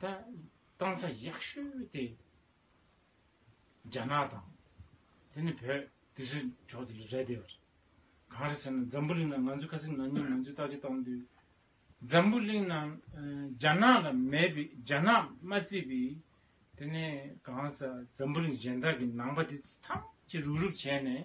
ད་གཏང་ས་ཡག་ཤོས་དེ་རྒྱ་ནག་དང་དེ་ནས་བོད་དེ་ཚོའི་ཕྱོགས་དེ་རེད་བསྡད་པ་རེད། གང་རེད་ཟེར་ན་འཛམ་བུ་གླིང་ནང་ང་ཚོའི་ཁ་སིང་ན་ཉིད་ང་ཚོའི་ལྟ་སྤྱོད་བཏང་དུས་འཛམ་བུ་གླིང་ནང་རྒྱ་ནག་ལ་མེད་པའི་རྒྱ་ནག་མ་བརྩིས་པའི་དེ་ནས་གང་ཟག་འཛམ་བུ་གླིང་གཞན་དག་གི་ནང་པ་དེ་ཚོ་ཐམས་ཅད་རུག་རུག་བྱས་ནས་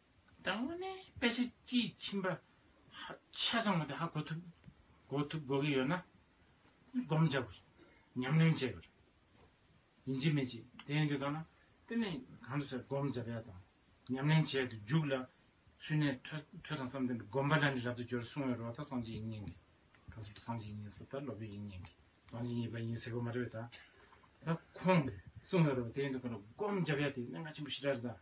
དང་པོ་ནི་དཔེ་ཆ་དཀྱིལ་ཕྱིན་པ་ཆ་ཚང་བ་དེ་ཧ་གོ་ཐུབ། གོ་ཐུབ་གོ་གི་ཡོད་ན། བསྒོམ་བྱ་བར། ཉམས་ལེན་བྱེད་པར། ཡིན་གཅིག་མིན་གཅིག་དེ་ཡིན་དུས་ལྟ་ན། དེ་ནི་གང་འདྲ་ཟེར་བསྒོམ་བྱ་བས་དང། ཉམས་ལེན་བྱས་དུས་འཇུག་ལ། ཚུལ་གནས་ཐོས་དང་བསམ་གཏན་པའི་བསྒོམ་པ་ལ་ནི་རབ་ཏུ་སྦྱོར་གསུང་བའི་རོ་ལྟར་སངས་རྒྱས་ཡིན་སྙིང་གི། གང་སུ་སངས་རྒྱས་ཡིན་ཟེར་ལྟར་སློབ་དཔོན་ཡིན་སྙིང་གི། སངས་རྒྱས་ཡིན་པ་ཡིན་ཟེར་བ་མ་རེད་བས་དང། ད་ཁོང་གིས་གསུང་བའི་རོ་དེ་ཡིན་དུས་གང་འདྲ་བསྒོམ་བྱ་བས་དེ་གནད་འགག་ཆེན་པོ་ཞེ་དྲག་རེད་དང།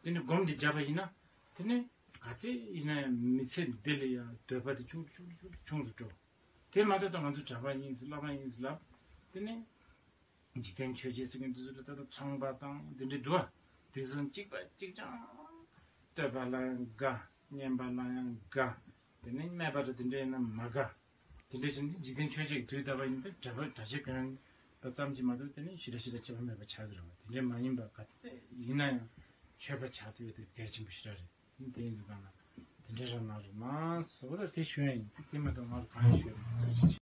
དེ་ནི་སྒོམ་དེ་བརྒྱབ་པ་ཡིན་ན་དེ་ནི་ག་ཚད་ཡིན་ན་ཡང་མི་ཚེ་འདི་ལ་ཡང་འདོད་པ་དེ་ཆུང་དུ་ཆུང་དུ་ཆུང་དུ་ཆུང་དུ་འགྲོ། དེ་མ་ཐག་ཏུ་ང་ཚོ་གྲྭ་པ་ཡིན་ཟེར་བླ་མ་ཡིན་ཟེར་ལབ། དེ་ནི་འཇིག་རྟེན་ཆོས་རྗེ་སེང་གེ་འདི་ཚོ་ལ་ལྟ་ལ་ཚོང་པ་དང་དེ་འདྲའི་འདུལ་བ་དེ་བཞིན་གཅིག་པ་གཅིག་ཅང་བསྟོད་པ་ལ་ཡང་དགའ། བསྙེན་པ་ལ་ཡང་དགའ། དེ་ནི་སྨད་པ་དང་དེ་འདྲ་ཡིན་ན་མ་དགའ། དེ་འདྲའི་ཕྱིན་ཅི་འཇིག་རྟེན་ཆོས་ཅན་གྱི་དུས་ལྟ་བ་ཡིན་པས་འབྲེལ་པ་སྒྲ་བྱེད་གང་པ་ཙམ་གྱིས་མ་གཏོགས་དེ་ནི་ཞི་ར་ཞི་ར་བྱེད་པ་མེད་པར་བྱ་གི་རེད་བ་དེ་འདྲའི་མ་ཡིན་པ་ག་ཚད་ཡིན་ན་ཡང་ཆོས་པ་བྱ་འདོད་དེ་གལ་ཆེན་པོ་ཞི་ར་རེད་ཡིན་དེའི་འདུན་པ་ང་དེ་འདྲའི་རང་ནང་རེད་མ་གསུངས་ཨོ་ལོ་དེ་ཞོན་ཡིན་དེ་མ་གཏོགས་ང་ལ་གང་ཡང་ཞོན་མེད།